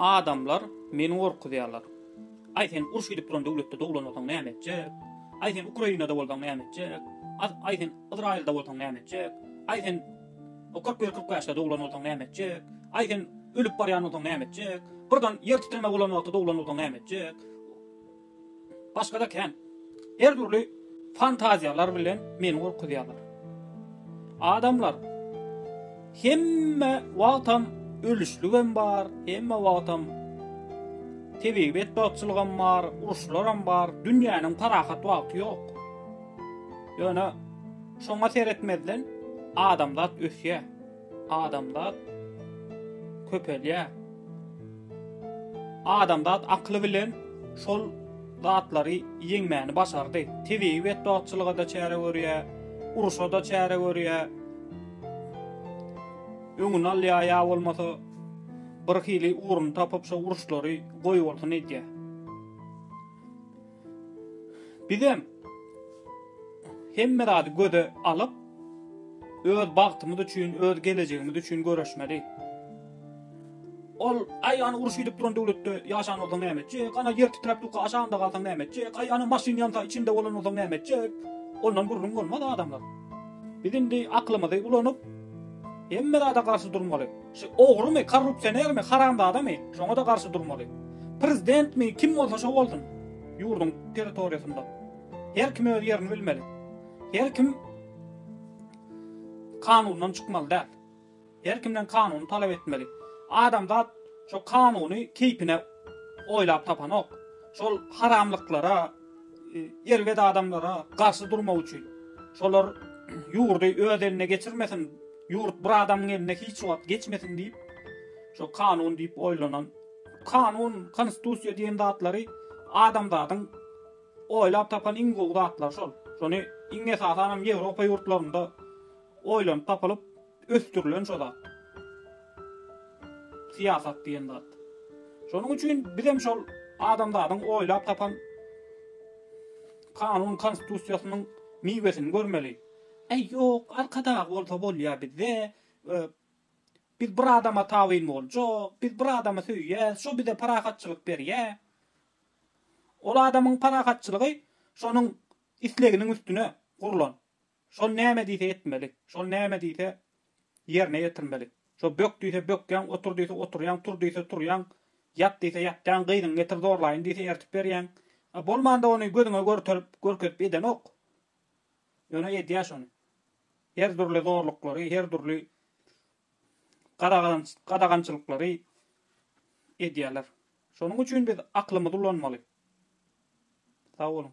Adamlar meni gorkuzýarlar. Aý sen uruş gidip duran döwletde doglanmasaň näme etjek? Aý sen Ukrainada bolsaň näme etjek? Aý sen Yzraýylda bolsaň näme etjek? Aý sen kyrk bir kyrk bäşde doglan bolsaň näme etjek? Aý sen ölüp barýan bolsaň näme etjek? Birden ýer titreme bolan wagty doglan bolsaň näme etjek? Başga-da kän. Her dürli fantaziýalar bilen meni gorkuzýarlar. Adamlar, hemme wagtam ölüşligem bar, hemme wagtam tebigy betbagtçylygam bar, uruşlaram bar, dünýäniň parahat wagty ýok. Ýöne şoňa seretmezden adamzat ösýär. Adamzat köpelýär. Adamzat akyly bilen şol zatlary ýeňmäni başardy. Tebigy betbagtçylyga-da çäre görýär, urşa-da çäre görýär. Öňüni alýar ýa bolmasa birhili ugruny tapyp şo uruşlary goýbolsun edýär. Bizem hemme zady göze alyp, öz bagtymyz üçin, öz gelejegimiz üçin göreşmeli. Ol, Aý, ana uruş gidip duran döwletde ýaşan bolsaň näme etjek? Ana ýer titräp dukga aşagynda galsaň näme etjek? Aý, ana maşyn ýansa içinde bolan bolsaň näme etjek? Ondan gürrüň bolmaz adamlar. Biz indi aklymyzy ulanyp, hemme zada garşy durmaly. Şu ogrymy, korrupsionermi, haramzadamy, şoňa-da garşy durmaly. Prezidentmi, kim bolsa şo bolsun, ýurduň territoriýasynda her kim öz ýerini bilmeli. Her kim kanundan çykmaly däl. Her kimden kanuny talap etmeli. Adamzat şo kanuny keýpine oýlap tapanok. Şol haramlyklara, erbet adamlara garşy durmak üçin. Şolar ýurdy öz eline geçirmesin. Ýurt bir adamyň eline hiç wagt geçmesin diýip, şo kanun diýip oýlanan, kanun, konstitusiýa diýen zatlary adamzadyň oýlap tapan iň gowy zatlary şol. Şony iň esasanam Ýewropa ýurtlarynda oýlanyp tapylyp ösdürilen şo zat. Syýasat diýen zat. Şonuň üçin bizem şol adamzadyň oýlap tapan kanun konstitusiýasynyň miwesini görmeli. Äý ýok arkadag bolsa bolýa bizde biz bir adama tabyn boljak biz bir adamy söýýäs şo bize parahatçylyk berýä ol adamyň parahatçylygy şonuň isleginiň üstüne gurlan şol näme diýse etmeli şol näme diýse ýerine ýetirmeli şo bök diýse bökýäň otur diýse oturýaň tur diýse turýaň ýat diýse ýatýaň gyzyňy getir zorlaýyn diýse ertip berýäň bolmanda ony gözüňe görterip görkezip edenok. Ýöne edýär şony. Her dürli zorluklary, her dürli gadagançylyklary edýärler. Şonuň üçin biz aklymyzy ulanmaly. Sag boluň.